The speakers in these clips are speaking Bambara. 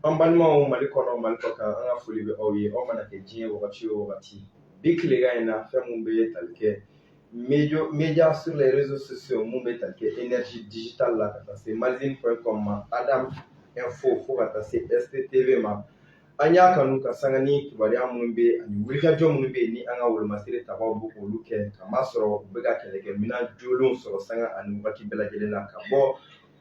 An balimaw mali kɔnɔ mali kɔkan an ka foli bɛ aw ye aw mana kɛ diɲɛ wagati o wagati bi tilekan in na fɛn minnu bɛ tali kɛ média sur les réseaux sociaux minnu bɛ tali kɛ énergie digitale la ka taa se malizine point com ma adamu info fo ka taa se stv ma an y'a kanu ka sanga ni kibaruya minnu bɛ ani wulikajɔ minnu bɛ yen ni an ka wolomasiri tabaw bɛ olu kɛ kamasɔrɔ u bɛ ka kɛlɛkɛminɛn jolenw sɔrɔ sanga ani wagati bɛɛ lajɛlen na ka bɔ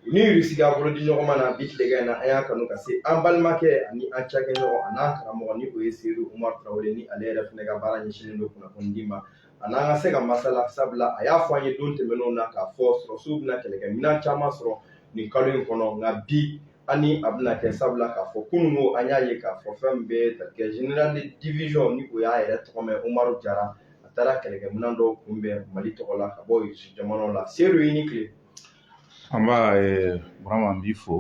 u ni irisi ka bolo di ɲɔgɔn ma na bi tilegan in na an y'a kanu ka se an balimakɛ ani an cakɛɲɔgɔn an'an karamɔgɔ ni o ye seyidu umar tarawele ni ale yɛrɛ fana ka baara ɲɛsinnen don kunnafoni di ma a n'an ka se ka masala sabula a y'a fɔ an ye don tɛmɛnenw na k'a fɔ sɔrɔsiw bɛna kɛlɛkɛminɛn caman sɔrɔ nin kalo in kɔnɔ nka bi ani a bɛna kɛ sabula k'a fɔ kunun ko an y'a ye k'a fɔ fɛn min bɛ tali kɛ général de division ni o y'a yɛrɛ tɔgɔma umaru jara a taara kɛlɛkɛminɛn dɔw kunbɛn mali tɔgɔ la ka bɔ irisi jamanaw la seyidu i ni tile Nba Burama n b'i fo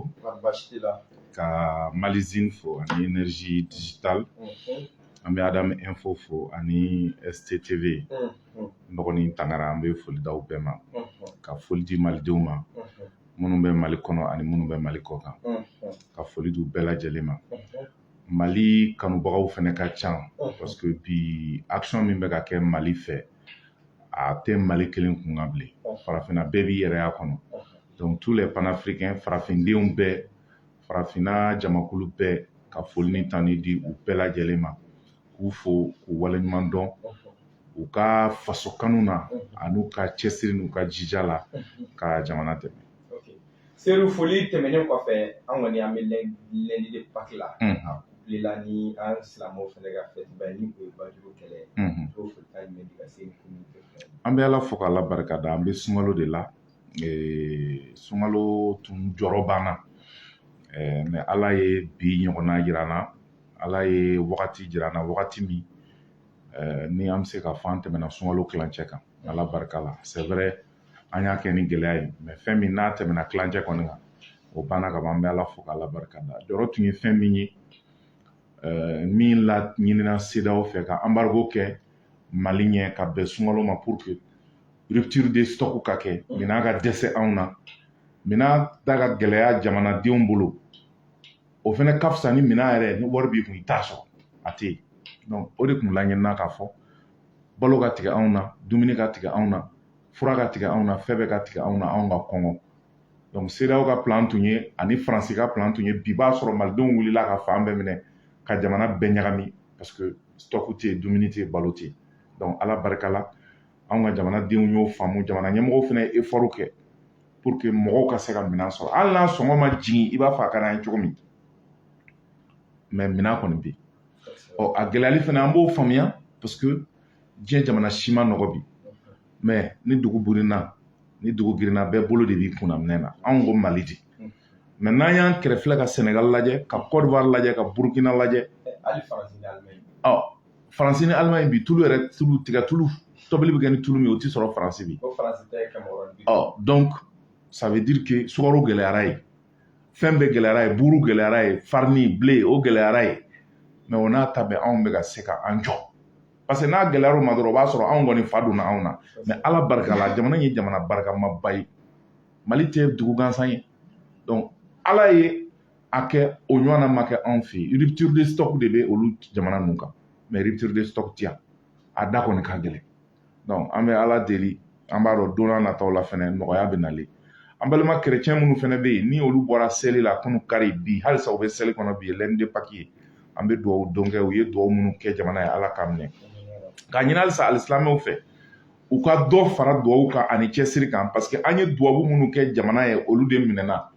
ka Malizine fo ani Énergie Digitale an bɛ Adamu Info fo ani STTV n dɔgɔnin Tangara an bɛ foli d'aw bɛɛ ma ka foli di Malidenw ma minnu bɛ Mali kɔnɔ ani minnu bɛ Mali kɔkan ka foli d'u bɛɛ lajɛlen ma Mali kanubagaw fana ka ca parce que bi action min bɛ ka kɛ Mali fɛ a tɛ mali kelen kun kan bilen farafinna bɛɛ b'i yɛrɛ y'a kɔnɔ donc tous les panafricains farafindenw bɛɛ farafinna jamakulu bɛɛ ka foli ni tanu di u bɛɛ lajɛlen ma k'u fo k'u waleɲuman dɔn u ka faso kanu na an'u ka cɛsiri n'u ka jija la ka jamana dɛmɛ Seyidu foli tɛmɛnen kɔfɛ an kɔni an bɛ lundi de Pâques la la ni an silamɛw fana ka fête ni o ye baduru kɛlɛ o foli ka ɲɛ ka se an bɛ ala fo k' ala barika da an bɛ sunkalo de la sunkalo tun jɔrɔ b'an na mais ala ye bi ɲɔgɔnna jira an na ala ye wagati jira an na wagati min ni an bɛ se k'a fɔ an tɛmɛna sunkalo kilancɛ kan ala barika la c'est vrai an y'a kɛ ni gɛlɛya ye mais fɛn min n'a tɛmɛna kilancɛ kɔni kan o banna ka ban an bɛ ala fo k'ala barika da jɔrɔ tun ye fɛn min ye eh, min laɲinina CEDEAO fɛ ka embargo kɛ mali ɲɛ ka bɛn sunkalo ma pour que rupture de stock ka kɛ minɛn ka dɛsɛ anw na minɛn da ka gɛlɛya jamanadenw bolo o fana ka fisa ni minɛn yɛrɛ ni wari b'i kun i t'a sɔrɔ a tɛ yen donc o de tun laɲinina k'a fɔ balo ka tigɛ anw na dumuni ka tigɛ anw na fura ka tigɛ anw na fɛn bɛɛ ka tigɛ anw na anw ka kɔngɔ donc CEDEAO ka plan tun ye ani faransi ka plan tun ye bi b'a sɔrɔ malidenw wulila ka fan bɛɛ minɛ ka jamana bɛɛ ɲagami parce que stock tɛ yen dumuni tɛ yen balo tɛ yen donc ala barika la anw ka jamanadenw y'o faamu jamana ɲɛmɔgɔw fana ye effort kɛ pour que mɔgɔw ka se ka minɛn sɔrɔ hali n'a sɔngɔ ma jigin i b'a fɔ a ka d'an ye cogo min mais minɛn kɔni bɛ yen ɔ a gɛlɛyali fana an b'o faamuya parce que diɲɛ jamana si ma nɔgɔ bi mais ni dugu burinna ni dugu girinna bɛɛ bolo de b'i kunna minɛn na anw ko mali di mais n'an y'an kɛrɛ filɛ ka sɛnɛgal lajɛ ka kɔdiwari lajɛ ka burukina lajɛ ɔ faransi ni alimaɲi bi tulu yɛrɛ tulu tigɛ tulu tobili bɛ kɛ ni tulu min o tɛ sɔrɔ faransi bi ɔ donc ça veut dire que sukaro gɛlɛyara yen fɛn bɛɛ gɛlɛyara yen buru gɛlɛyara yen farine blé o gɛlɛyara yen mais o n'a ta bɛɛ anw bɛ ka se ka an jɔ parce que n'a gɛlɛyara o ma dɔrɔn o b'a sɔrɔ anw kɔni fa donna anw na mais ala barika la jamana ye jamana barikamaba ye mali tɛ dugu gansan ye donc ala ye a kɛ o ɲɔgɔnna ma kɛ anw fɛ yen rupture de stock de bɛ olu jamana ninnu kan mais rupture de stock tɛ yan a da kɔni ka gɛlɛn an bɛ ala deli an b'a dɔn don nataw la fana nɔgɔya bɛ nalen an balima kɛrɛcɛn minnu fana bɛ yen ni olu bɔra seli la kunun kari bi halisa u bɛ seli kɔnɔ bi lundi de pâques ye an bɛ dugawu don kɛ u ye dugawu minnu kɛ jamana ye ala k'a minɛ k'a ɲini halisa alisilamɛw fɛ u ka dɔ fara dugawu kan ani cɛsiri kan parce que an ye dubabu minnu kɛ jamana ye olu de minɛna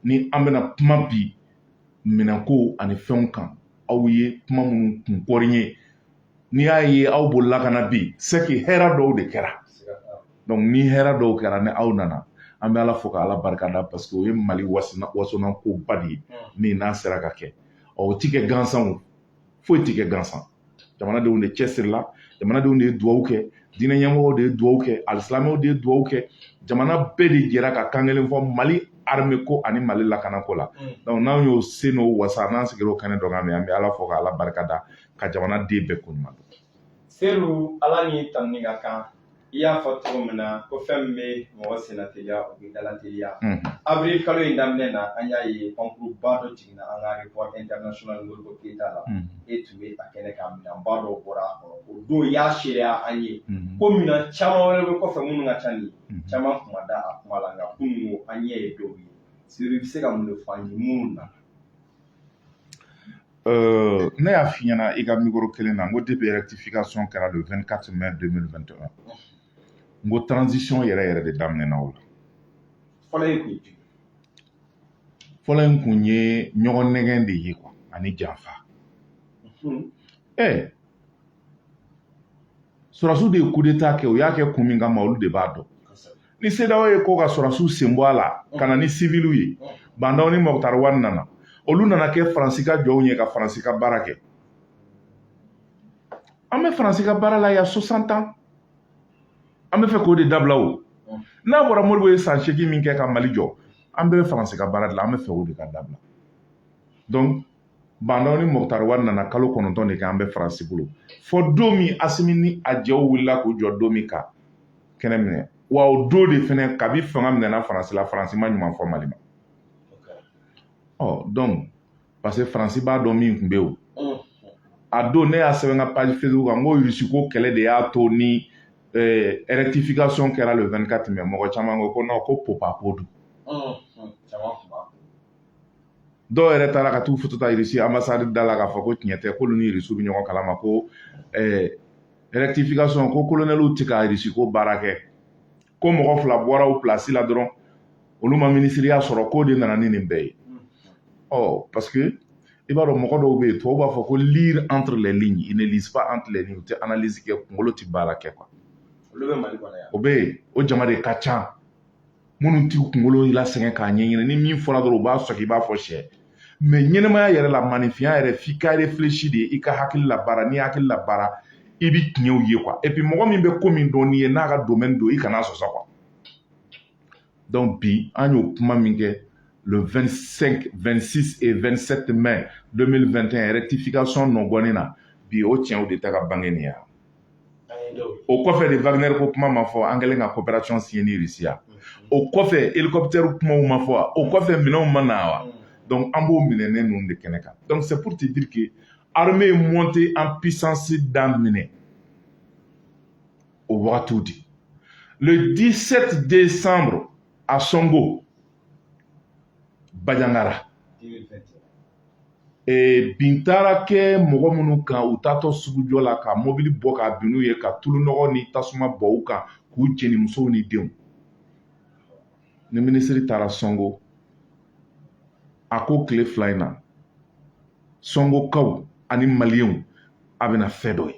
ni an bɛna kuma bi minɛnko ani fɛnw kan aw ye kuma minnu kun kɔri ye n'i y'a ye aw bolila ka na bi c'est que hɛrɛ dɔw de kɛra ni hɛrɛ dɔw kɛra ni aw nana an bɛ ala fo ka ala barika da parce que o ye mali wasana ko ba de ye min n'a sera ka kɛ o ti kɛ gansan foyi ti kɛ gansan jamanadenw de cɛsirila jamanadenw de ye dugawu kɛ diinɛ ɲɛmɔgɔw de ye dugawu kɛ alisilamɛw de ye dugawu kɛ jamana bɛɛ de jɛra ka kan kelen fɔ mali armée ko ani mali lakanako la donc n'anw y'o se n'o wasa n'an sigira o kɛnɛ dɔ kan mɛ an bɛ ala fo ka ala barika da ka jamanaden bɛɛ ko ɲuman dɔn seydou ala ni tanuni ka kan i y'a fɔ cogo min na ko fɛn min bɛ mɔgɔ senna teliya o bɛ dala teliya avril kalo in daminɛ na an y'a ye pankurunba dɔ jiginna an ka aéroport international modibo keyita la e tun bɛ a kɛnɛ kan minɛnba dɔw bɔra a kɔnɔ o don y'a seereya an ye ko minɛn caman wɛrɛ bɛ kɔfɛ minnu ka ca nin caman tun ma da a kuma la nka kunun an ɲɛ ye dɔw ye seydou i bɛ se ka mun de fɔ an ye minnu na Euh, ne y'a f'i ɲɛna i ka mikoro kelen na n ko depuis rectification kɛra le 24 mai 2021 n ko transition yɛrɛ yɛrɛ de daminɛna o la fɔlɔ in kun ye ɲɔgɔn nɛgɛn de ye quoi ani janfa ɛ sɔrɔsiw de ye coup d'État kɛ u y'a kɛ kun min kama olu de b'a dɔn ni CEDEAO ye ko ka sɔrɔsiw sen bɔ a la ka na ni siviliw ye Bah N'Daw ni Moctar Ouane nana olu nana kɛ faransi ka jɔnw ye ka faransi ka baara kɛ an bɛ faransi ka baara la y a 60 ans an bɛ fɛ k'o de dabila o n'a bɔra Modibo ye san seegin min kɛ ka mali jɔ an bɛɛ bɛ faransi ka baara de la an bɛ fɛ o de ka dabila donc Bah N'Daw ni Moctar Ouane nana kalo kɔnɔntɔn de kɛ an bɛ faransi bolo fɔ don min Asimi ni a jɛw wulila k'u jɔ don min ka kɛnɛ minɛ wa o don de fana kabi fanga minɛna faransi la faransi ma ɲuman fɔ mali ma donc parce que faransi b'a dɔn min tun bɛ yen o a don ne y'a sɛbɛn n ka page Facebook kan n ko irisi ko kɛlɛ de y'a to ni rectification kɛra le 24 mai mɔgɔ caman ko non ko pp ko don dɔw yɛrɛ taara ka t'u foto ta irisi anbasadi da la k'a fɔ ko tiɲɛ tɛ k'olu ni irisiw bɛ ɲɔgɔn kalama ko rectification ko kolonɛliw tɛ ka irisi ko baara kɛ ko mɔgɔ fila bɔra u pilasi la dɔrɔn olu ma minisiriya sɔrɔ k'o de nana ni nin bɛɛ ye ɔ parce que i b'a dɔn mɔgɔ dɔw bɛ yen tubabu b'a fɔ ko lire entre les lignes ils ne lisent pas entre les lignes u tɛ analyse kɛ kunkolo tɛ baara kɛ quoi o bɛ yen o jama de ka ca minnu t'u kunkolo lasɛgɛn k'a ɲɛɲini ni min fɔra dɔrɔn u b'a sɔgɔ i b'a fɔ sɛ mais ɲɛnɛmaya yɛrɛ la maaninfinya yɛrɛ f'i ka réfléchir de i ka hakili labaara n'i hakili labaara i bi tiɲɛw ye quoi et puis mɔgɔ min bɛ ko min dɔn n'i ye n'a ka domaine don i kana sɔsɔ quoi donc bi an y'o kuma min kɛ le 25 26 et 27 mai 2021 rectification nɔgɔnin na bi o tiɲɛw de ta ka bange nin ya o kɔfɛ de wagner ko kuma ma fɔ an kɛlen ka coopération signer ni Russie ya o kɔfɛ hélicoptère kumaw ma fɔ wa o kɔfɛ minɛnw ma na wa donc an b'o minɛnen ninnu de kɛnɛ kan donc c'est pour te dire que armée montée en puissance daminɛ o wagatiw de le 17 décembre à Songo Bajangara bin taara kɛ mɔgɔ minnu kan u taatɔ sugujɔ la ka mobili bɔ ka bin n'u ye ka tulu nɔgɔ ni tasuma bɔn u kan k'u jeni musow ni denw ni minisiri taara sɔngo a ko tile fila in na sɔngokaw ani maliyenw a bɛna fɛn dɔ ye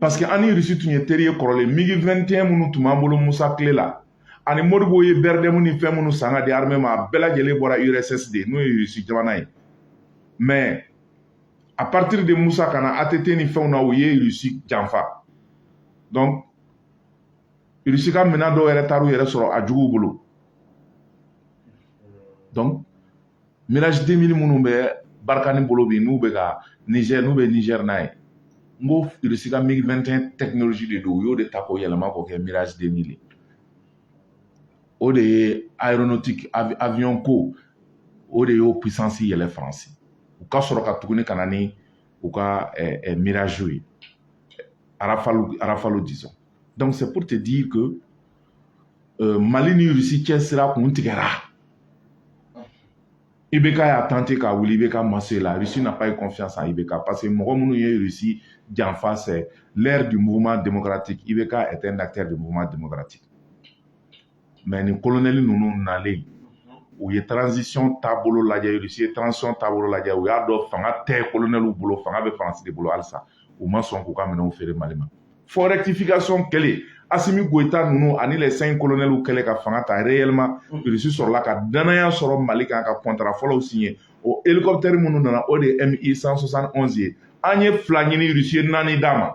paseke an ni irisi tun ye teri ye kɔrɔlen migi 21 minnu tun b'an bolo musa kile la ani modibo ye bɛrɛdɛmu ni fɛn minnu san ka di armɛ ma a bɛɛ lajɛlen bɔra urss de n'o ye irisi jamana ye mais à partir de musa ka na att ni fɛnw na u ye irisi janfa donc irisi ka minɛn dɔw yɛrɛ taar'u yɛrɛ sɔrɔ a juguw bolo donc mirage 2000 minnu bɛ barikani bolo bi n'u bɛ ka nizɛr n'u bɛ nizɛr n'a ye n ko irisi ka mig 21 technologie de don u y'o de ta k'o yɛlɛma k'o kɛ mirage 2000 o de ye aéronautique avion ko o de y'o puissance yɛlɛ faransi u ka sɔrɔ ka tuguni ka na ni u ka eh, eh, mirage ye arafalu disons donc c'est pour te dire que mali ni irisi cɛ sira kun tigɛra ibk y'a tenté k'a wuli ibk ma se la russie n'a pas eu confiance en ibk parce que mɔgɔ minnu ye irisi janfa c'est l'ère du mouvement démocratique ibk est un acteur du mouvement démocratique mais nin kolonɛli ninnu nalen u ye transition taabolo lajɛ irisi ye transition taabolo lajɛ u y'a dɔn fanga tɛ kolonɛliw bolo fanga bɛ faransi de bolo halisa u ma sɔn k'u ka minɛnw feere mali ma fo rectification kɛlen asimi goyita ninnu ani les cinq colonels kɛlen ka fanga ta réellement mm. irisi sɔrɔla ka danaya sɔrɔ mali kan ka kɔntara fɔlɔw siɲɛ o hélicoptère minnu nana o de ye mi 171 ye an ye fila ɲini irisi ye naani d'an ma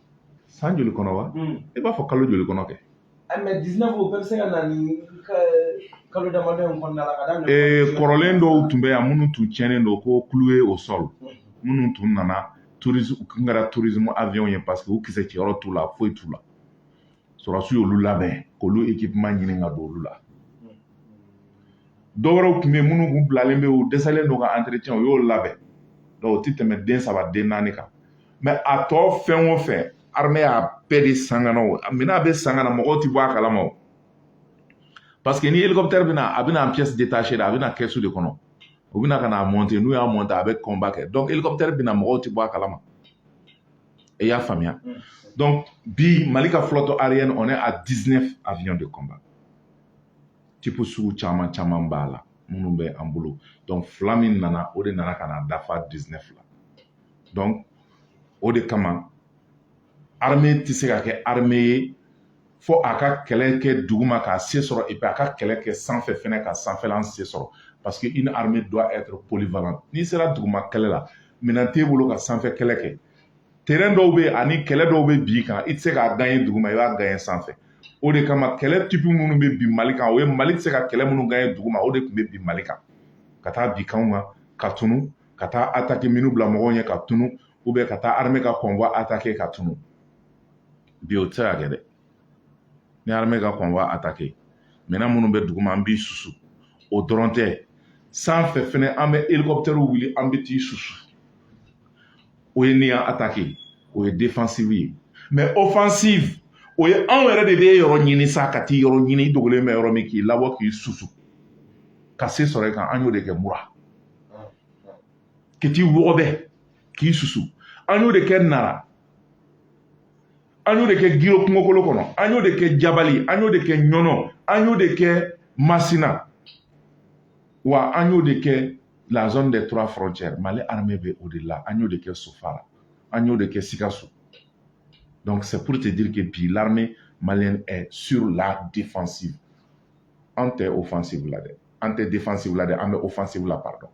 san joli kɔnɔ wa i b'a fɔ kalo joli kɔnɔ kɛ kalo damadɔ in kɔnɔna la ka daminɛ ee kɔrɔlen dɔw tun bɛ yan minnu tun tiɲɛnen don ko cloué au sol minnu tun nana tourisme u tun kɛra tourisme avion ye parce que u kisɛ ci yɔrɔ t'u la foyi t'u la sɔrɔdasiw y'olu labɛn k'olu équipement ɲini ka don olu la dɔwɛrɛw tun bɛ yen minnu tun bilalen bɛ u dɛsɛlen don ka entretien u y'o labɛn donc o tɛ tɛmɛ den saba den naani kan mais a tɔ fɛn o fɛn armɛ y'a bɛɛ de san ka na o minɛn a bɛ san ka na mɔgɔw tɛ bɔ a kalama o parce que ni hélicoptère bɛ na a bɛ na en pièce détachée de a bɛ na kɛsu de kɔnɔ u bɛ na ka n'a monter n'u y'a monter a bɛ combat kɛ donc hélicoptère bɛ na mɔgɔw tɛ bɔ a kalama i y'a faamuya donc bi mali ka flotte aérienne on est à 19 avions de combat type sugu caman caman b'a la minnu bɛ an bolo donc fila min nana o de nana ka na dafa 19 la o de kama arme tɛ se ka kɛ arme ye fo a ka kɛlɛ kɛ duguma k'a se sɔrɔ a ka kɛlɛ kɛ sanfɛ fɛnɛ ka sanfɛlan se sɔrɔ paseke une armée doit être polyvalent n'i sera duguma kɛlɛ la minɛn t'e bolo ka sanfɛ kɛlɛ kɛ terɛn dɔw bɛ yen ani kɛlɛ dɔw bɛ bin i kan i tɛ se k'a gaɲɛ duguma i b'a gaɲɛ sanfɛ o de kama kɛlɛ tipi minnu bɛ bin mali kan o ye mali tɛ se ka kɛlɛ minnu gaɲɛ duguma o de tun bɛ bin mali kan ka taa bin kanw kan ka tunu ka taa ataki mine bila mɔgɔw ɲɛ ka tunu ou bien ka taa armée ka convoi attaquer ka tunu bi o tɛ se ka kɛ dɛ ni armée ka convoi attaquer maintenant minnu bɛ duguma an b'i susu o dɔrɔn tɛ sanfɛ fɛnɛ an bɛ hélicoptère wuli an bɛ t'i susu o ye n'i y'an attaquer o ye défensive ye mais offensive o ye anw yɛrɛ de bɛ yɔrɔ ɲini sa ka t'i yɔrɔ ɲini i dogolen bɛ yɔrɔ min k'i labɔ k'i susu ka se sɔrɔ i kan an y'o de kɛ mura ka t'i wɔgɔbɛ k'i susu an y'o de kɛ nara an y'o de kɛ giro kungokolo kɔnɔ an y'o de kɛ jabali an y'o de kɛ ɲɔnɔ an y'o de kɛ masina wa an y'o de kɛ la zone des trois frontières mali armée bɛ o de la an y'o de kɛ sofara an y'o de kɛ sikaso donc c'est pour te dire que bi l'armée malienne est sur la défensive an tɛ offensive la dɛ an tɛ défensive la dɛ an bɛ offensive la pardon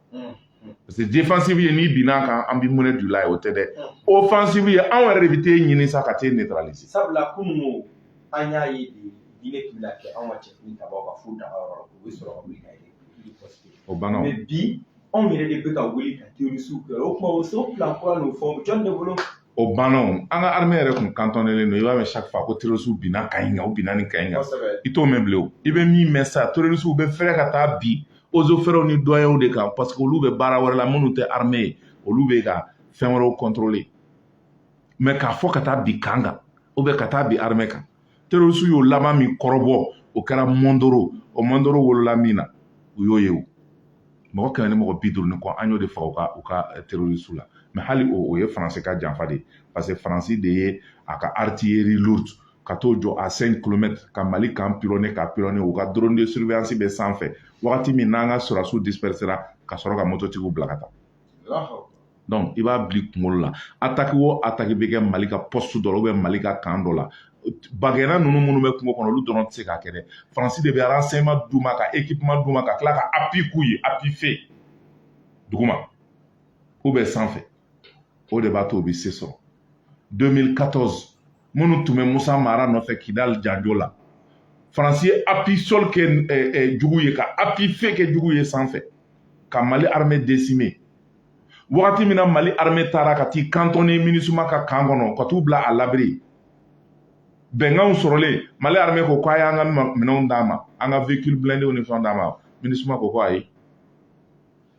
parce que défensive ye n'i binna an kan an bɛ monnaie du la ye o tɛ dɛ offensive ye anw yɛrɛ de bɛ t'e ɲini sa ka t'e neutraliser sabula kunun ko an y'a ye de binni tun bɛna kɛ anw ka cɛ finitabaw kan fo daga yɔrɔ la u bɛ sɔrɔ ka wuli ka yɛlɛ o banna o mais bi anw yɛrɛ de bɛ ka wuli ka terrorisiw kɛ o tuma o so fila kura n'o fɔ jɔn de bolo o banna o an ka armée yɛrɛ kun cantonnélen don i b'a mɛn chaque fois ko terrorisiw binna camp in kan u binna nin camp in kan i t'o mɛn bilen o i bɛ min mɛn sa terrorisiw bɛ fɛrɛ ka taa bi eaux et forêtw ni douanierw de kan parce que olu bɛ baara wɛrɛ la minnu tɛ armée ye olu bɛ ka fɛn wɛrɛw contrôler mais k'a fɔ ka taa bi camp kan ou bien ka taa bi armée kan terrorisiw y'o laban min kɔrɔbɔ o kɛra mondoro o mondoro wolola min na u y'o ye o mɔgɔ kɛmɛ ni mɔgɔ bi duuru ni kɔ an y'o de faga u ka u ka eh, terrorisiw la mais hali o o ye faransi ka janfa de ye parce que faransi de ye a ka artillerie lourde ka t'o jɔ à 5 kilomètres ka mali camp pilonner ka pilonner u ka drone de surveillance bɛ sanfɛ wagati min n'an ka sɔrasiw dispersera ka sɔrɔ ka mototigiw bila ka taa donc i b'a bil'i kunkolo la ataki o ataki bɛ kɛ mali ka poste dɔ la ou bien mali ka camp dɔ la bagɛnna ninnu minnu bɛ kungo kɔnɔ olu dɔrɔn tɛ se k'a kɛ dɛ faransi de bɛ renseignement d'u ma ka équipement d'u ma ka tila ka appui k'u ye appui feu duguma ou bien sanfɛ o de b'a to u bɛ se sɔrɔ 2014 minnu tun bɛ musa mara nɔfɛ kidali janjo la faransi ye appui sol kɛ eh, eh, jugu ye ka appui feu kɛ jugu ye sanfɛ ka mali armée décimer wagati min na mali armée taara ka t'i cantonner minusma ka camp kɔnɔ ka t'u bila à l'abri bɛnkanw sɔrɔlen mali armée ko k'a y'an ka minɛnw d'an ma an ka véhicule blindéw ni fɛnw d'an ma minusma ko ko ayi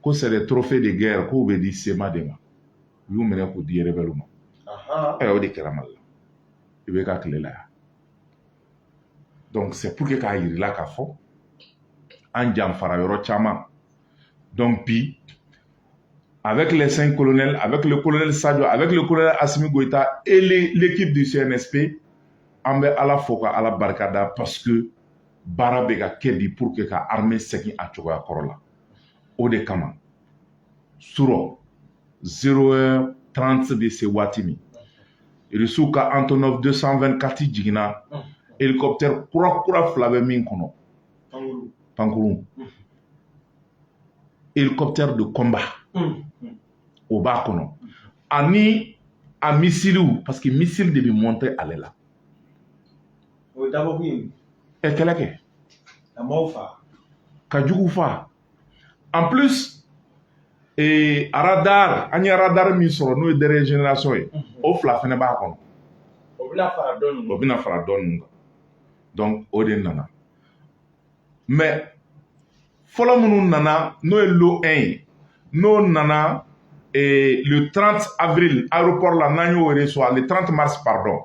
ko c'est des trophées de guerre k'u bɛ di cma de ma u y'u minɛ k'u di rebɛliw ma ayiwa o de kɛra mali la i bɛ ka tile la yan donc c'est pour que k'a yirila k'a fɔ an janfara yɔrɔ caman donc bi avec les cinq colonels, avec le colonel Sadio, avec le colonel Assimi Goïta et l'équipe du CNSP, an bɛ Ala fo ka Ala barika da parce que baara bɛ ka kɛ bi pour que ka armée segin a cogoya kɔrɔ la. O de 0 heure 30 bɛ se waati min irisiw ka Antonov 224 jiginna hélicoptère kura kura fila bɛ min kɔnɔ pankurun hélicoptère de combat o b'a kɔnɔ ani a missilew parce que missile de bɛ monté ale la ɛ kɛlɛ kɛ ka jugu faa en plus ee radar an ye radar min sɔrɔ n'o ye dernière génération ye o fila fɛnɛ b'a kɔnɔ o bɛna fara dɔ ninnu kan donc o de nana mais fɔlɔ minnu nana n'o ye lot 1 ye n'o nana ee le 30 avril aéroport la n'an y'o reçoit le 30 mars pardon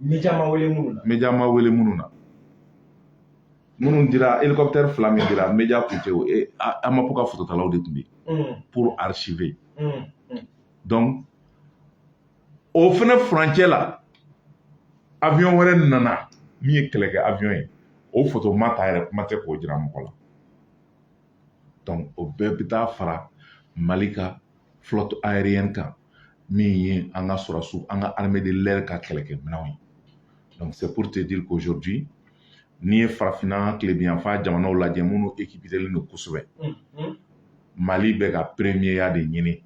Media ma wele minnu na. Media ma wele minnu na. Minnu dira hélicoptère fila min dira media kun tɛ o e AMAP ka fototalaw de tun bɛ yen. pour archiver. donc o fana furancɛ la avion wɛrɛ nana min ye kɛlɛkɛ avion ye o foto ma ta yɛrɛ kuma tɛ k'o jira mɔgɔ la donc o bɛɛ bɛ taa fara mali ka flotte aérienne kan min ye an ka sɔrɔdasiw an ka armée de l'air ka kɛlɛkɛminɛnw ye donc c'est pour te dire qu'aujourd'hui n'i ye farafinna tilebiyanfan jamanaw lajɛ minnu équipélen don kosɛbɛ mali bɛ ka premiereya de ɲini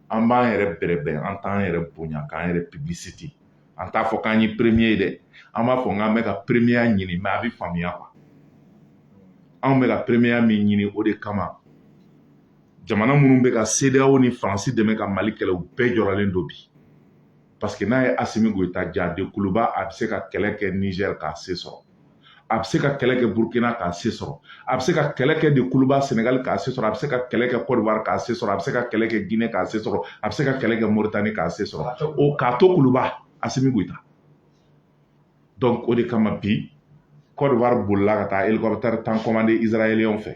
an b'an yɛrɛ bɛrɛbɛn an t'an yɛrɛ bonya k'an yɛrɛ publicité an t'a fɔ k'an ye premier ye dɛ an b'a fɔ k'an bɛ ka premiereya ɲini mais a bɛ faamuya quoi anw bɛ ka premiereya min ɲini o de kama jamana minnu bɛ ka CEDEAO ni Faransi dɛmɛ ka Mali kɛlɛ u bɛɛ jɔrɔlen don bi parce que n'a ye Asimi Goyita ja de kuluba a bɛ se ka kɛlɛ kɛ Niger k'a se sɔrɔ a bɛ se ka kɛlɛ kɛ Burkina k'a se sɔrɔ a bɛ se ka kɛlɛ kɛ de kuluba Senegal k'a se sɔrɔ a bɛ se ka kɛlɛ kɛ Côte d'Ivoire k'a se sɔrɔ a bɛ se ka kɛlɛ kɛ Guinée k'a se sɔrɔ a bɛ se ka kɛlɛ kɛ Mauritanie k'a se sɔrɔ o k'a to kuluba Asimi Goyita donc o de kama bi Côte d'Ivoire bolila ka taa hélicoptère tan commandé israéliens fɛ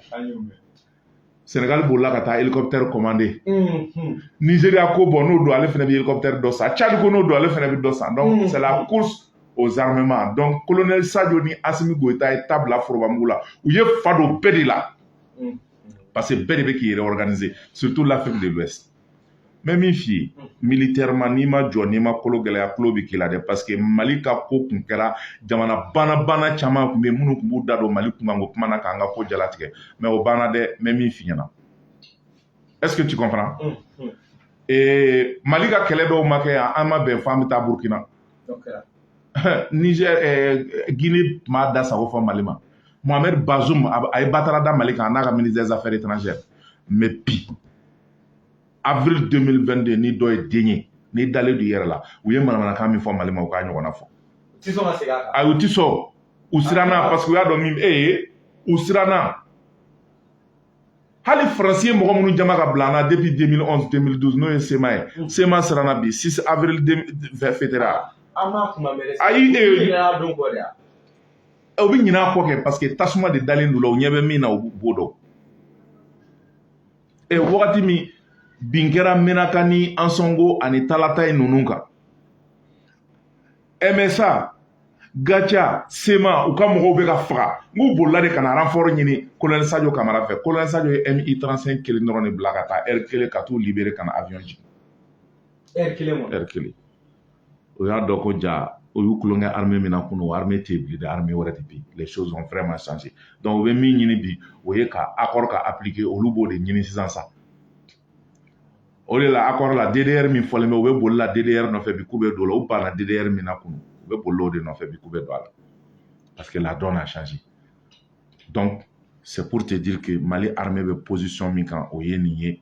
senegal bolila ka taa hélicoptère commandé mhm. nigeria ko bon n'o don ale fana bɛ hélicoptère dɔ san tchad ko n'o don ale fana bɛ dɔ san donc mhm. c'est la course aux armements donc colonel sadio ni asimi goyita ye ta bila forobamugu la u ye fa don bɛɛ de la mhm. parce que bɛɛ de bɛ k'i réorganiser surtout l'afrique de l'ouest mais min f'i ye militairement n'i ma jɔ n'i ma kolo gɛlɛya tulon bɛ k'i la dɛ parce que mali ka ko kun kɛra jamana banabana caman kun bɛ minnu kun b'u da don mali kunkanko kuma na k'an ka ko jalatigɛ mais o banna dɛ mais min f'i ɲɛna est ce que tu comprends mm, mm. Eh, mali ka kɛlɛ dɔw ma kɛ yan an ma bɛn fɔ an bɛ taa burkina niger eh, guinée tun b'a da sago fɔ mali ma mohamed bazoum a ye batara da mali kan a n'a ka ministre des affaires étrangères mais bi avril 2022 ni dɔ ye den ye n'i dalen don i yɛrɛ la u ye manamanakan min fɔ mali ma u k'a ɲɔgɔnna fɔ a u ti sɔn u siranna parce que u y'a dɔn min e ye u siranna hali faransi ye mɔgɔ minnu jama ka bila an na depuis 2011 2012 n'o ye CMA ye mm. CMA siranna bi 6 avril fêtera ayi e o bɛ ɲinɛ a kɔ kɛ parce que tasuma de dalen don u la u ɲɛ bɛ min na u b'o dɔn e wagati min bin kɛra menaka ni ansɔngo ani talataye ninnu kan msa gatia cma u ka mɔgɔw bɛ ka faga nk'u bolila de ka na renfort ɲini kolonɛli sajo kamara fɛ kolonɛli sajo ye mi 35 kelen dɔrɔn de bila ka taa heure kelen ka t'u libérer ka na aviɔn jigin heure kelen kɔnɔ heure kelen u y'a dɔn ko jaa u y'u tulonkɛ armée min na kunu o armée tɛ bilen dɛ armée wɛrɛ de bɛ yen les choses ont vraiment changé donc u bɛ min ɲini bi o ye ka accord ka appliquer olu b'o de ɲini sisan sa o de la accord la DDR min fɔlen bɛ u bɛ boli la DDR nɔfɛ bi k'u bɛ don o la u banna DDR min na kunu u bɛ boli o de nɔfɛ bi k'u bɛ don a la parce que la donne a changé donc c'est pour te dire que Mali armée bɛ position min kan o ye nin ye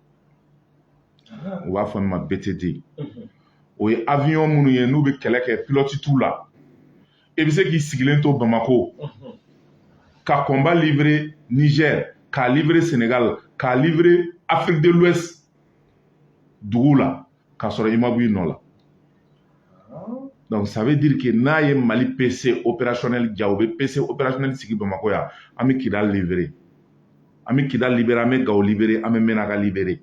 u b'a fɔ min ma BT2 o ye avion minnu ye n'u bɛ kɛlɛ kɛ pilɔti t'u la i bɛ se k'i sigilen to Bamako ka combat livrer Niger k'a livrer Senegal k'a livrer Afrique de l'Ouest duguw la k'a sɔrɔ i ma b'i nɔ la donc ça veut dire que n'a ye mali pc opérationnel ja u bɛ pc opérationnel sigi bamakɔ yan an bɛ kidal libérer an bɛ kidal libérer an bɛ gawo libérer an bɛ mɛnaka libérer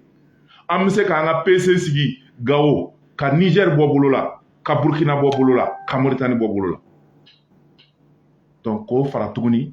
an bɛ se k'an ka pc sigi gawo ka niger bɔ bolo la ka burkina bɔ bolo la ka moritani bɔ bolo la donc k'o fara tuguni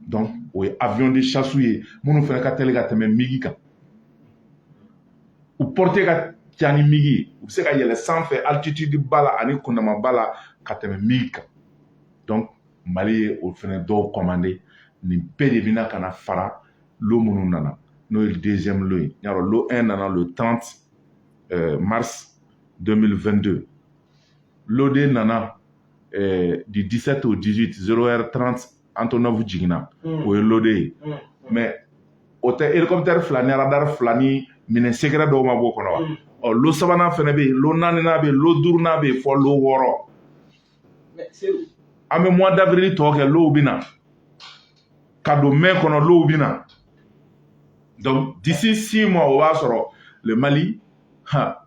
donc o ye avion de chasse ye minnu fana ka teli ka tɛmɛ migi kan u portée ka ca ni migi ye u bɛ se ka yɛlɛ sanfɛ altitude ba la ani kundama ba la ka tɛmɛ migi kan donc mali ye o fana dɔw commander nin bɛɛ de bɛna ka na fara lot minnu nana n'o ye deuxième lot ye y'a dɔn lot 1 nana le 30 euh, mars 2022 lot 2 nana ɛɛ du dix-sept au dix-huit zéro heure trente Antonov jiginna o ye lot deux ye mais o tɛ hélicoptère fila ni aradari fila ni minɛn secret dɔw ma b'o kɔnɔ wa ɔ lot sabanan fɛnɛ bɛ yen lot naaninan bɛ yen lot duurunan bɛ yen fo lot wɔɔrɔ an bɛ mois d'avril tɔ kɛ low bɛ na ka don mai kɔnɔ low bɛ na donc d'ici six mois o b'a sɔrɔ le mali ha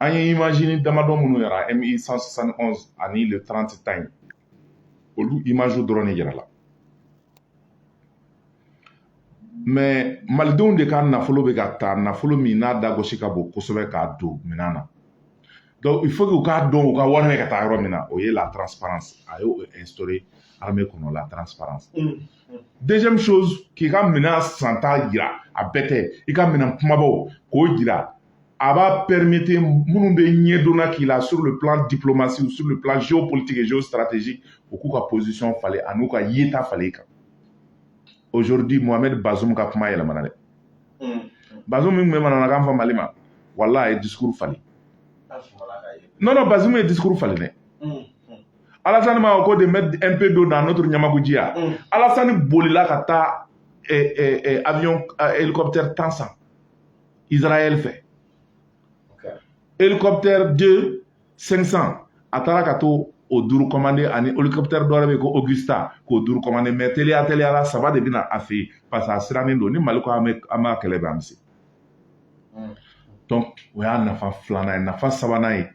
an ye imazini damadɔ minnu yaara MI 171 ani le 30 ta in olu imaziw dɔrɔn de yaarala mais malidenw de ka nafolo bɛ ka ta nafolo min n'a da gosi ka bon kosɛbɛ k'a don minɛn na donc il faut que u k'a dɔn u ka wari bɛ ka taa yɔrɔ min na o ye la transparence a y'o instaurer armée kɔnɔ la transparence mm. deuxième chose k'i ka minɛn santa jira a bɛɛ tɛ i ka minɛn kumabaw k'o jira a b'a permettre minnu bɛ ɲɛdonna k'i la sur le plan diplomatie ou sur le plan géopolitique et géostratégique u k'u ka position falen an'u ka yeta falen i kan aujourd'hui mohamed bazoum ka kuma yɛlɛmana dɛ hmm. bazoum min tun bɛ manamanakan fɔ mali ma wala a ye discours falen non non bazoum ye discours falen dɛ alasani ma ko de mettre un peu d'eau dans notre ɲamakuji ya mm. alasani bolila ka taa eh, eh, eh, avion eh, hélicoptère tan san israel fɛ okay. hélicoptère 2 500 a taara ka taa o duuru commandé ani hélicoptère dɔ wɛrɛ bɛ yen ko Agusta k'o duuru commandé mais teliya teliya la saba de bɛ na a fɛ yen parce que a sirannen don ni mali ko an bɛ an b'a kɛlɛ bɛ an bɛ se donc o y'a nafa filanan ye nafa sabanan ye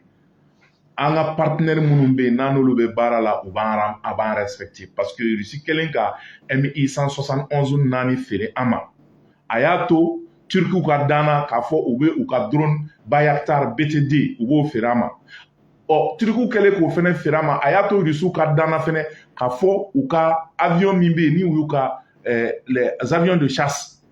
an ka partenaire minnu bɛ yen n'an n'olu bɛ baara la u b'an a b'an respecter parce que Russie kɛlen ka MI 171 naani feere an ma a y'a to Turkiw ka danna k'a fɔ u bɛ u ka drone Bayraktar BT2 u b'o feere an ma ɔ Turkiw kɛlen k'o fɛnɛ feere an ma a y'a to Rusiw ka danna fɛnɛ k'a fɔ u ka avion min bɛ yen ni u y'u ka eh, les avions de chasse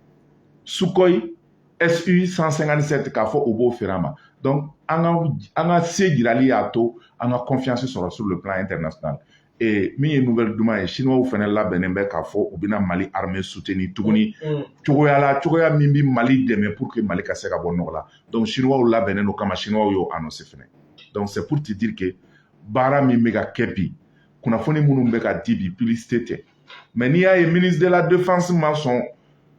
Sukhoi SU 157 k'a fɔ u b'o feere an ma donc an ka an ka se jirali y'a to an ka confiance sɔrɔ sur le plan international ee min ye nouvelle duman ye siniwaw fɛnɛ labɛnnen bɛ k'a fɔ u bɛna mali armée soutenir tuguni mm, mm. cogoya la cogoya min bɛ mali dɛmɛ pour que mali ka se ka bɔ nɔgɔ la donc siniwaw labɛnnen don kama siniwaw y'o annoncé fɛnɛ donc c'est pour te dire que baara min bɛ ka kɛ bi kunnafoni minnu bɛ ka di bi publicité tɛ mais n'i y'a ye ministre de la défense ma sɔn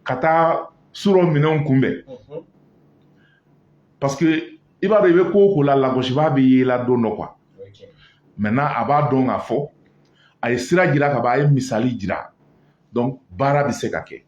ka taa surɔ minɛnw kunbɛn mhm. parce que i b'a dɔn i bɛ ko o ko la lagosibaa bɛ ye i la don dɔ quoi maintenant a b'a dɔn k'a fɔ a ye sira jira ka ban a ye misali jira donc baara bɛ se ka kɛ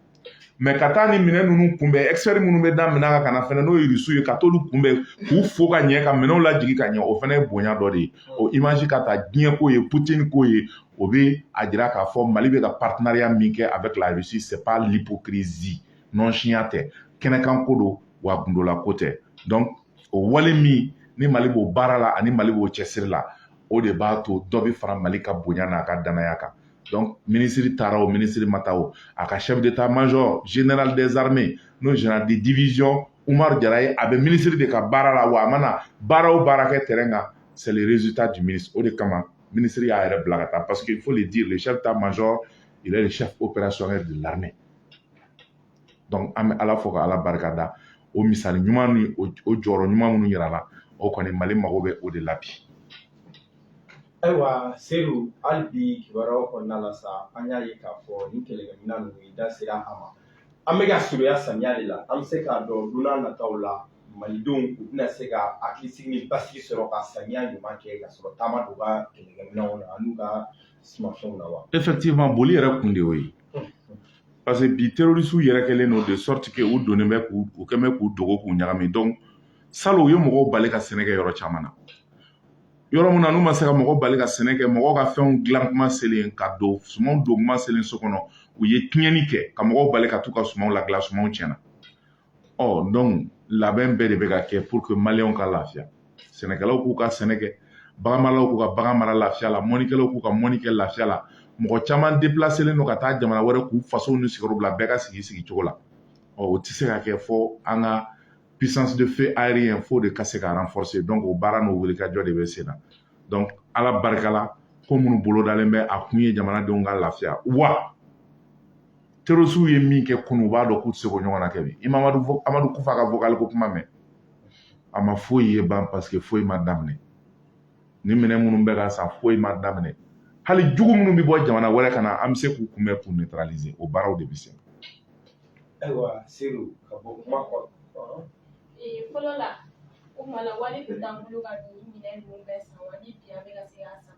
mɛ ka taa ni minɛn ninnu kunbɛn expert minnu bɛ da minɛn kan ka na fɛnɛ n'o ye rusu ye ka t'olu kunbɛn k'u fo ka ɲɛ ka minɛnw lajigin ka ɲɛ o fɛnɛ ye bonya dɔ de ye o imazi ka ta diɲɛ k'o ye putini k'o ye o bɛ a jira k'a fɔ mali bɛ ka patinariya min kɛ avec la russie c'est pas l'hypocrisie nɔnsiya tɛ kɛnɛkan ko don wa gundolako tɛ donc o wale min ni mali b'o baara la ani mali b'o cɛsiri la o de b'a to dɔ bɛ fara mali ka bonya n'a ka danaya kan donc minisiri taara o minisiri ma taa o a ka chef d'état major général des armées n'o général de division umar jara ye a bɛ minisiri de ka baara la wa a mana baara o baara kɛ terrain kan c'est le résultat du ministre o de kama minisiri y'a yɛrɛ bila ka taa parce que il faut le dire le chef d'état major il est le chef opérationnel de l'armée donc an bɛ ala fo ka ala barika da o misali ɲuman ni o jɔyɔrɔ ɲuman minnu yirala o kɔni mali mago bɛ o de la bi ayiwa seyidu hali bi kibaruyaw kɔnɔna la sa an y'a ye k'a fɔ ni kɛlɛkɛminɛn ninnu i da sera a ma an bɛ ka surunya samiya de la an bɛ se k'a dɔn don nataw la malidenw u bɛna se ka hakilisigi ni basigi sɔrɔ ka samiya ɲuman kɛ ka sɔrɔ ta ma don u ka kɛlɛkɛminɛnw na an'u ka sumafɛnw na wa effectivement boli yɛrɛ kun de y'o ye parce que bi terrorisiw yɛrɛ kɛlen don de sorte que u donnen bɛ k'u u kɛn bɛ k'u dogo k'u ɲagami donc salon u ye mɔgɔw bali ka sɛnɛ kɛ yɔrɔ caman na yɔrɔ min na n'u ma se ka mɔgɔ bali ka sɛnɛ kɛ mɔgɔw ka fɛnw dilan kuma selen ka don sumanw don kuma selen so kɔnɔ u ye tiɲɛni kɛ ka mɔgɔw bali ka t'u ka sumanw ladilan sumanw tiɲɛna ɔ donc labɛn bɛɛ de bɛ ka kɛ pour que maliyɛnw ka lafiya sɛnɛkɛlaw k'u ka sɛnɛ kɛ baganmaralaw k'u ka bagan mara lafiya la mɔnikɛlaw k'u ka mɔni kɛ lafiya la mɔgɔ caman depilaselen don ka taa jamana wɛrɛ k'u fasow ni sigiyɔrɔ bila bɛɛ ka sigi sigi cogo la ɔ o tɛ se ka kɛ fo an ka puissance de feu aérien f'o de ka se ka renforcer donc o baara n'o wulikajɔ de bɛ sen na donc ala barika la ko minnu bolodalen bɛ a kun ye jamanadenw ka lafiya wa terrorisiw ye min kɛ kunu u b'a dɔn k'u tɛ se k'o ɲɔgɔn na kɛ bi i ma amadu kufa ka vocal ko kuma mɛn a ma foyi ye ban parce que foyi ma daminɛ nin minɛn minnu bɛ ka san foyi ma daminɛ hali jugu minnu bɛ bɔ jamana wɛrɛ ka na an bɛ se k'u kunbɛn k'u neutraliser o baaraw de bɛ sen ayiwa seyidu ka bɔ kuma kɔnɔ fɔlɔ la o kuma na wari tun t'an bolo ka nin minɛ ninnu bɛɛ san wa ni bi an bɛ ka se k'a san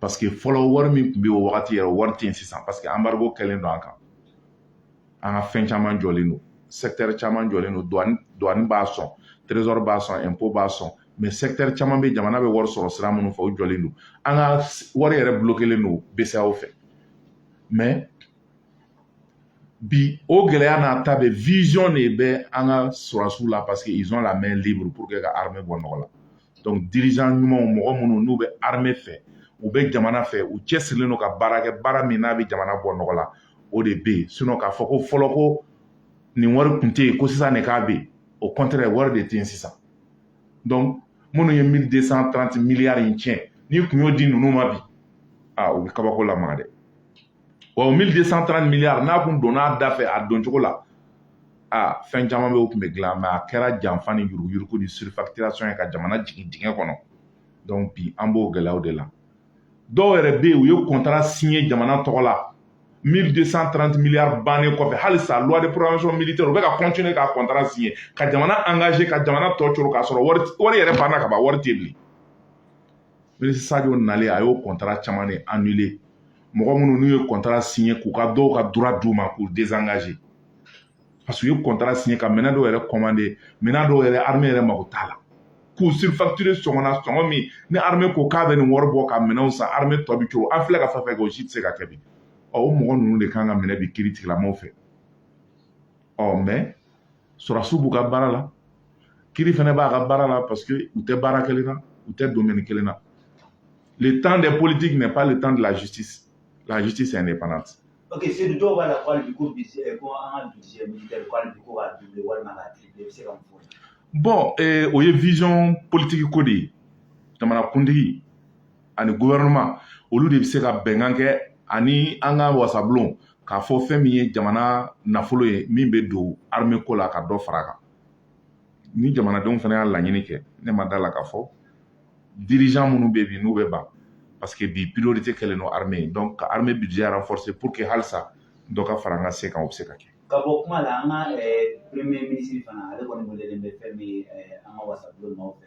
paseke fɔlɔ wari min tun bɛ o wagati yɛrɛ wari tɛ yen sisan paseke anbarigo kɛlen don an kan an ka fɛn caman jɔlen don sɛkitɛri caman jɔlen don duwani b'a sɔn terezɔri b'a sɔn ɛnpo b'a sɔn mɛ sɛkitɛri caman bɛ jamana bɛ wari sɔrɔ sira minnu fɛ o jɔlen don an ka wari yɛrɛ bulokelen don bceao fɛ mɛ bi o gɛlɛya n'a ta bɛɛ vision de bɛ an ka sɔrɔdasiw la parce que ils ont la main libre pour que ka arimɛ bɔ nɔgɔ la donc dirigeant ɲumanw mɔgɔ minnu n'u bɛ armée fɛ u bɛ jamana fɛ u cɛsirilen don ka baara kɛ baara min n'a bɛ jamana bɔ nɔgɔ la o de bɛ yen sinon k'a fɔ ko fɔlɔ ko nin wari tun tɛ yen ko sisan de k'a bɛ yen au contraire wari de tɛ yen sisan donc minnu ye 1230 miliyari in tiɲɛ n'i kun y'o di ninnu ma bi aa u bɛ kabako lamaga dɛ wa o 1230 miliyari n'a kun donna a da fɛ a don cogo la a fɛn caman bɛ o tun bɛ dilan mais a kɛra janfa ni yuruguyurugu ni surfacturation ye ka jamana jigin dingɛ kɔnɔ donc bi an b'o gɛlɛyaw de la dɔw yɛrɛ bɛ yen u ye kɔntara siɲɛ jamana tɔgɔ la 1230 miliyari bannen kɔfɛ halisa loi de programmation militaire u bɛ ka continuer ka kɔntara siɲɛ ka jamana engager ka jamana tɔ coro k'a sɔrɔ wari yɛrɛ banna ka ban wari tɛ bilen sajo nalen a y'o kɔntara caman de annuler mɔgɔ minnu n'u ye kɔntara siɲɛ k'u ka dɔw ka droit d'u ma k'u désengager parce que u ye kɔntara siɲɛ ka minɛn dɔw yɛrɛ kɔmande minɛn dɔw yɛrɛ arme yɛrɛ mago t'a la k'u surfacturer sɔngɔna sɔngɔ min ni arme ko k'a bɛ nin wari bɔ ka minɛnw san arme tɔ bɛ coro an filɛ ka fɛn fɛn kɛ o si tɛ se ka kɛ bi ɔ o mɔgɔ ninnu de kan ka minɛ bi kiritigɛla mɔgɔw fɛ ɔ mais sɔrɔdasiw b'u ka baara la kiri fana b'a ka baara la parce que u tɛ baara kelen na u tɛ domaine kelen na le temps des politiques n'est pas le temps de la justice la justice est indépendante ok sedu dɔw b'a la ko hali bi ko eh, ko an ka budget militaire ko hali bi ko k'a doubler walima k'a tripler i bɛ se ka mun fɔ bon eh, o ye vision politique ko de ye jamanakuntigi ani gouvernement olu de bɛ se ka bɛnkan kɛ ani an ka wasabulon k'a fɔ fɛn min ye jamana nafolo ye min bɛ don armée ko la ka dɔ fara a kan ni jamanadenw fana y'a laɲini kɛ ne ma da la k'a fɔ dirigeant minnu bɛ bi n'u bɛ ban parce que bi priorité kɛlen don armée ye donc ka armée budget renforcer pour que halisa dɔ ka fara an ka se kan o bɛ se ka kɛ. ka bɔ kuma la an ka premier ministre fana ale kɔni welelen bɛ fɛn min ye an ka wasabulon maaw fɛ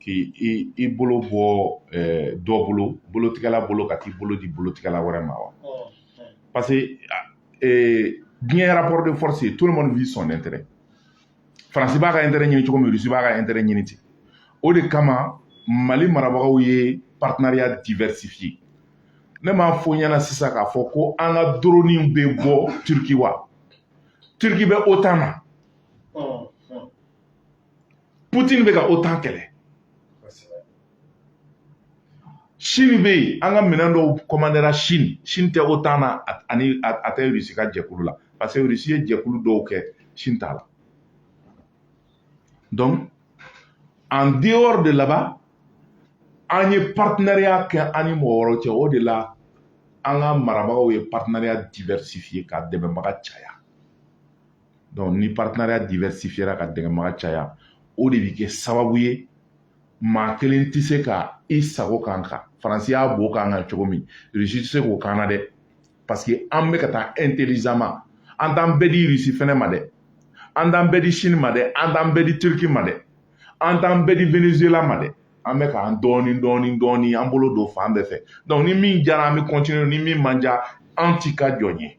k'i i i bolo bɔ dɔ bolo bolotigɛla bolo ka t'i bolo di bolotigɛla wɛrɛ ma wa parce que diɲɛ rapport de force ye tout le monde vise son intérêt faransi b'a ka intérêt ɲini cogo min rusi b'a ka intérêt ɲini ten o de kama mali marabagaw ye partenariat diversifié ne m'a fɔ ɲɛna sisan k'a fɔ ko an ka doroniw bɛ bɔ turki wa turki bɛ otan na putin bɛ ka otan kɛlɛ sini bɛ yen an ka minɛn dɔw kɔmandera sini sini tɛ otan na ani a tɛ rusi ka jɛkulu la parce que rusi ye jɛkulu dɔw kɛ sini t'a la donc en dehors de là-bas an ye partenariat kɛ an ni mɔgɔ wɛrɛw cɛ o de la an ka marabagaw ye partenariat diversifier ka dɛmɛbaga caya donc ni partenariat diversifiera ka dɛmɛbaga caya o de bɛ kɛ sababu ye maa kelen tɛ se ka i sago k'an kan faransi y'a bo k'an kan cogo min rusi tɛ se k'o k'an na dɛ parce que an bɛ ka taa intelligemment an t'an bɛɛ di rusi fɛnɛ ma dɛ an t'an bɛɛ di chine ma dɛ an t'an bɛɛ di turki ma dɛ an t'an bɛɛ di venezuela ma dɛ an bɛ k'an dɔɔni dɔɔni dɔɔni an bolo don fan bɛɛ fɛ donc ni min jara an bɛ continuer ni min man ja an t'i ka jɔn ye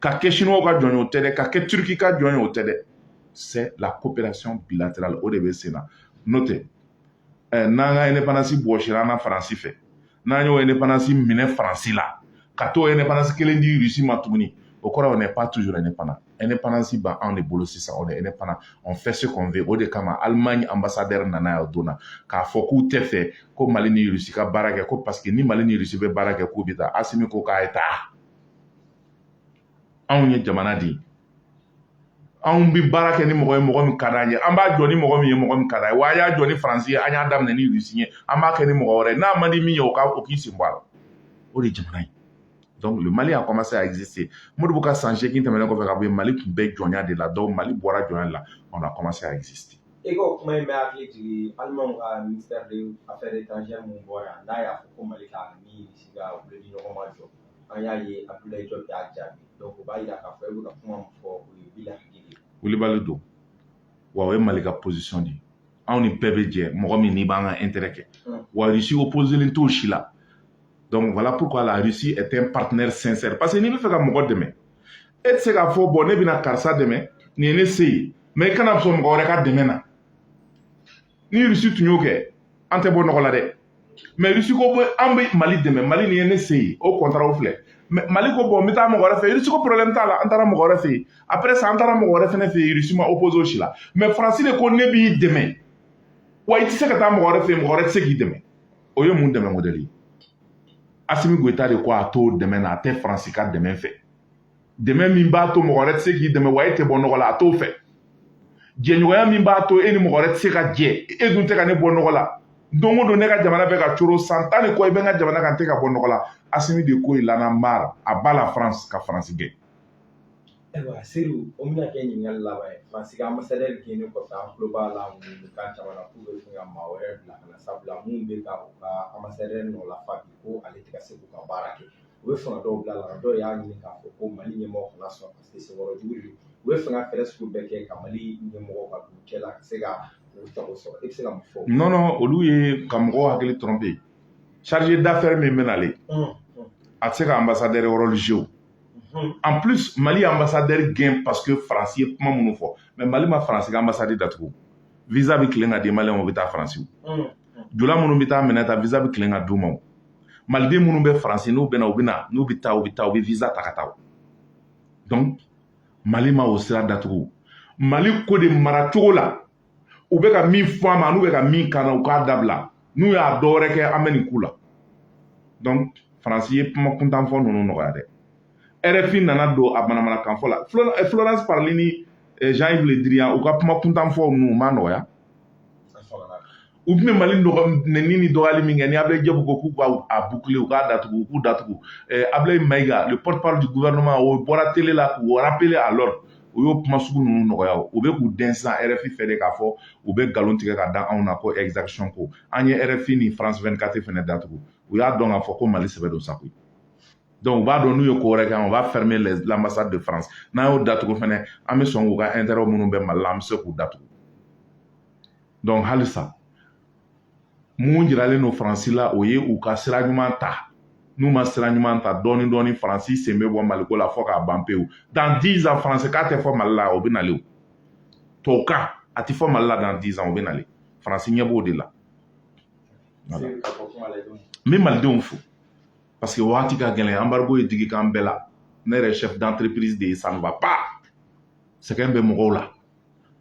ka kɛ chinois ka jɔn ye o tɛ dɛ ka kɛ turiki ka jɔn ye o tɛ dɛ c'est la coopération bilatérale o de bɛ sen na n'o tɛ ɛ n'an ka indépendance bɔsira an na faransi fɛ n'an y'o indépendance minɛ faransi la ka t'o indépendance kelen di russie ma tuguni o kɔrɔ on n'est pas toujours indépendant indépendance b'an de bolo sisan on est indépendant on fait ce qu'on veut o de kama allemagne ambassadeur nana yan o don na k'a fɔ k'u tɛ fɛ ko mali ni russie ka baara kɛ ko parce que ni mali ni russie bɛ baara kɛ k'u bɛ taa asimi ko k'a ye taa anw ye jamana de ye anw bɛ baara kɛ ni mɔgɔ ye mɔgɔ min ka d'an ye an b'a jɔ ni mɔgɔ min ye mɔgɔ min ka d'an ye wa an y'a jɔ ni faransi ye an y'a daminɛ ni rusi ye an b'a kɛ ni mɔgɔ wɛrɛ ye n'a man di min ye o k'i sen bɔ a la o de ye jamana ye donc le mali a commencé à exister modibo ka san seegin tɛmɛnen kɔfɛ ka bɔ yen mali tun bɛ jɔnya de la donc mali bɔra jɔnya de la on a commencé à exister i ko kuma in bɛ hakili jigin alimanw ka ministère des affaires étrangères min bɔra n'a y'a fɔ ko mali ka ni rusi ka wulili ɲɔgɔn ma jɔ an y'a ye abdoulaye diop y'a jaabi donc o b'a jira k'a fɔ e bɛ ka kuma min fɔ o ye bila hakili wulibali don wa o ye mali ka position de ye anw ni bɛɛ bɛ jɛ mɔgɔ min n'i b'an ka intérêt kɛ hmm. wa russie opposelen t'o si la donc voilà pourquoi la russie est un partenaire sincère parce que n'i bɛ fɛ ka mɔgɔ dɛmɛ e tɛ se k'a fɔ bon ne bɛna karisa dɛmɛ nin ye ne se ye mais i kana sɔn mɔgɔ wɛrɛ ka dɛmɛ na ni rusi tun y'o kɛ an tɛ bɔ nɔgɔ la dɛ mais rusi ko an bɛ mali dɛmɛ mali nin ye ne se ye o kɔntaraw filɛ mali ko bon n bɛ taa mɔgɔ wɛrɛ fɛ rusi ko problème t'a la an taara mɔgɔ wɛrɛ fɛ yen après ça an taara mɔgɔ wɛrɛ fɛnɛ fɛ yen rusi ma opposer o si la mais faransi de ko ne b'i dɛmɛ wa i tɛ se ka taa mɔgɔ wɛrɛ fɛ yen mɔgɔ wɛrɛ tɛ se k'i dɛmɛ o ye mun dɛmɛ modèle ye asimi goyita de ko a t'o dɛmɛ na a tɛ faransi ka dɛmɛ fɛ dɛmɛ min b'a to mɔgɔ wɛrɛ tɛ se k'i dɛmɛ wa e tɛ bɔ nɔgɔ la a t'o fɛ jɛɲɔgɔnya min b'a to e ni mɔgɔ wɛrɛ tɛ se ka jɛ e dun tɛ ka ne bɔ nɔgɔ la don o don ne ka jamana bɛ ka coro san tan ni kɔ i bɛ n ka jamana kan n tɛ ka bɔ nɔgɔ la asimi de ko il en a marre à bas la france ka faransi gɛn ayiwa seydou o bɛna kɛ ɲininkali laban ye faransi ka ambasadɛri gɛnni kɔfɛ an tulo b'a la mankan caman na k'u bɛ fɛ ka maa wɛrɛ bila ka na sabula min bɛ ka u ka ambasadɛri nɔ lafa bi ko ale tɛ ka se k'u ka baara kɛ u bɛ fanga dɔw bila la dɔw y'a ɲini k'a fɔ ko mali ɲɛmɔgɔ kana sɔn parce que senkɔrɔ jugu de u b'a fɛ ka fɛɛrɛ sugu bɛɛ kɛ ka mali ɲɛmɔgɔ ka don cɛ la ka se ka u sago sɔrɔ e bɛ se ka mun fɔ non non olu ye ka mɔgɔw hakili tromper chargé d'affaires min bɛ nalen a tɛ se ka ambassadeur rôle jouer en plus mali ye ambassadeur gɛn parce que faransi ye kuma minnu fɔ mais mali ma faransi ka ambassade datugu visa bɛ tilen ka di maliyɛnw ma u bɛ taa faransi jula minnu bɛ taa minɛn ta visa bɛ tilen ka d'u ma maliden minnu bɛ faransi n'u bɛ na u bɛ na n'u bɛ taa u bɛ taa u bɛ visa ta ka taa donc mali ma o sira datugu mali ko de mara cogo la u bɛ ka min fɔ a ma n'u bɛ ka min kan na u k'a dabila n'u y'a dɔ wɛrɛ kɛ an bɛ nin k'u la donc faransi ye kuma kuntan fɔ ninnu nɔgɔya dɛ rfi nana don a manamanakan fɔ la florence parly ni eh, jean yves le drian u ka kuma kuntan fɔ ninnu u ma nɔgɔya u tun bɛ mali nɛni ni dɔgɔyali min kɛ ni abulayi diop ko k'u k'a boucler u k'a datugu u k'u datugu eh, abulayi mayiga le porte parole du gouvernement o bɔra tele la k'u rappeler à l'ordre u y'o kuma sugu ninnu nɔgɔya u bɛ k'u dɛn sisan rfi fɛ de k'a fɔ u bɛ nkalon tigɛ ka da anw na ko exaction ko an ye rfi ni france 24 fɛnɛ datugu u y'a dɔn k'a fɔ ko mali sɛbɛ don sa koyi u b'a dɔn n'u ye ko wɛrɛ kɛ on va fermer l'ambassade de france n'an y'o datugu fɛnɛ an bɛ sɔn k'u ka intérêt minnu bɛ mali la an bɛ se k'u datugu donc halisa mun jiralen don faransi la o ye u ka sira ɲuman ta n'u ma sira ɲuman ta dɔɔni dɔɔni faransi sen bɛ bɔ maliko la fɔ k'a ban pewu dans dix ans faransikan tɛ fɔ mali la o bɛ nalen tubabukan a tɛ fɔ mali la dans dix ans o bɛ nalen faransi ɲɛ b'o de la n bɛ malidenw fo parce que waati ka gɛlɛn embargo ye digi k'an bɛɛ la ne yɛrɛ chef d'entreprise de ye ça ne va pas sɛgɛn bɛ mɔgɔw la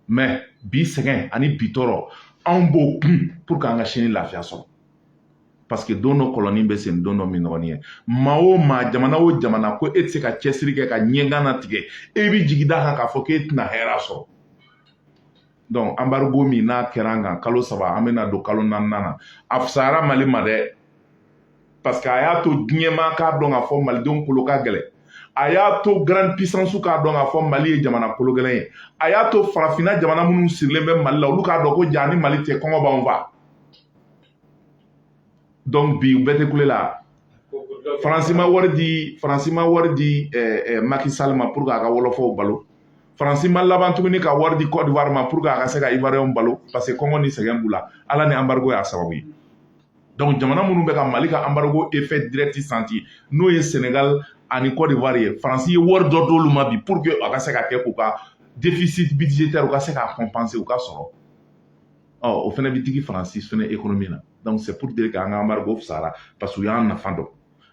mais bi sɛgɛn ani bi tɔɔrɔ anw b'o kun pour que an ka sini lafiya sɔrɔ parce que don dɔ kɔlɔnnin bɛ sen don dɔ minnɔgɔnin ye maa o maa jamana o jamana ko e tɛ se ka cɛsiri kɛ ka ɲɛgan natigɛ e bɛ jigi d'a kan k'a fɔ k'e tɛna hɛrɛ sɔrɔ donc embargo min n'a kɛra an kan kalo saba an bɛna don kalo naaninan na a fisayara mali ma dɛ parce que a y'a to diɲɛmaa k'a dɔn k'a fɔ malidenw kolo ka gɛlɛn a y'a to grande puissancew k'a dɔn k'a fɔ mali ye jamana kolo gɛlɛn ye a y'a to farafinna jamana minnu sirilen bɛ mali la olu k'a dɔn ko jaa ni mali tɛ kɔngɔ b'anw fa donc bi u bɛɛ tɛ kule la faransi ma wari di faransi ma wari di eh, eh, Macky Sall ma pour que a ka wɔlɔfɔw balo faransi ma laban tuguni ka wari di Côte d'Ivoire ma pour que a ka se ka ivoiriyɛnw balo parce que kɔngɔ ni sɛgɛn b'u la ala ni embargo y'a sababu ye donc jamana minnu bɛ ka mali ka embargo effet direct sentir n'o ye senegal ani Côte d'Ivoire ye faransi ye wari dɔ d'olu ma bi pour que a ka se ka kɛ k'u ka déficit budgétaire u ka se k'a compenser u ka sɔrɔ ɔ o fana bɛ digi faransi fana ekonomi na donc c'est pour dire k'an ka embargo fisayara parce que u y'an nafa dɔn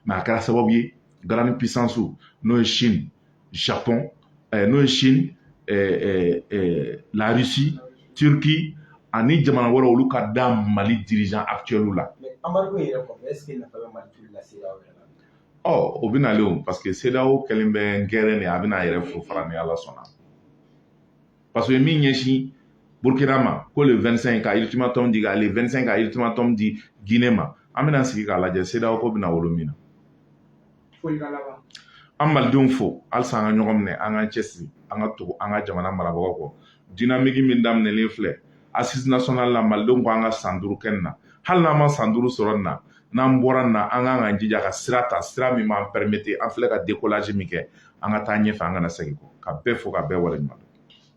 mais a kɛra sababu ye grandes puissances n'o ye chine japon eh, n'o ye chine eh, eh, eh, la russie turquie ani jamana wɛrɛ olu ka da mali dirigeant actuel la embargo yɛrɛ kɔfɛ est ce que nafa bɛ mali toli la cedeao yɛrɛ la ɔ o bɛ nalen o parce que cedeao kɛlen bɛ n gɛrɛ de a bɛna a yɛrɛ farafara ni ala sɔnna parce que min ɲɛsin burkina ma ko le 25 ka ultimatum di ka le 25 ka ultimatum di guinée ma an bɛna sigi k'a lajɛ cedeao ko bɛna wolo min na an malidenw fo halisa an ka ɲɔgɔn minɛ an k'an cɛsiri an ka tugu an ka jamana marabagaw kɔ dinamiki min daminɛlen filɛ assises nationales la malidenw ko an ka san duuru kɛ nin na hali n'an ma san duuru sɔrɔ nin na n'an bɔra nin na an kan k'an jija ka sira ta sira min b'an permettre an filɛ ka décollage min kɛ an ka taa ɲɛfɛ an kana segin kɔ ka bɛɛ fo ka bɛɛ waleɲuman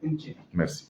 dɔn merci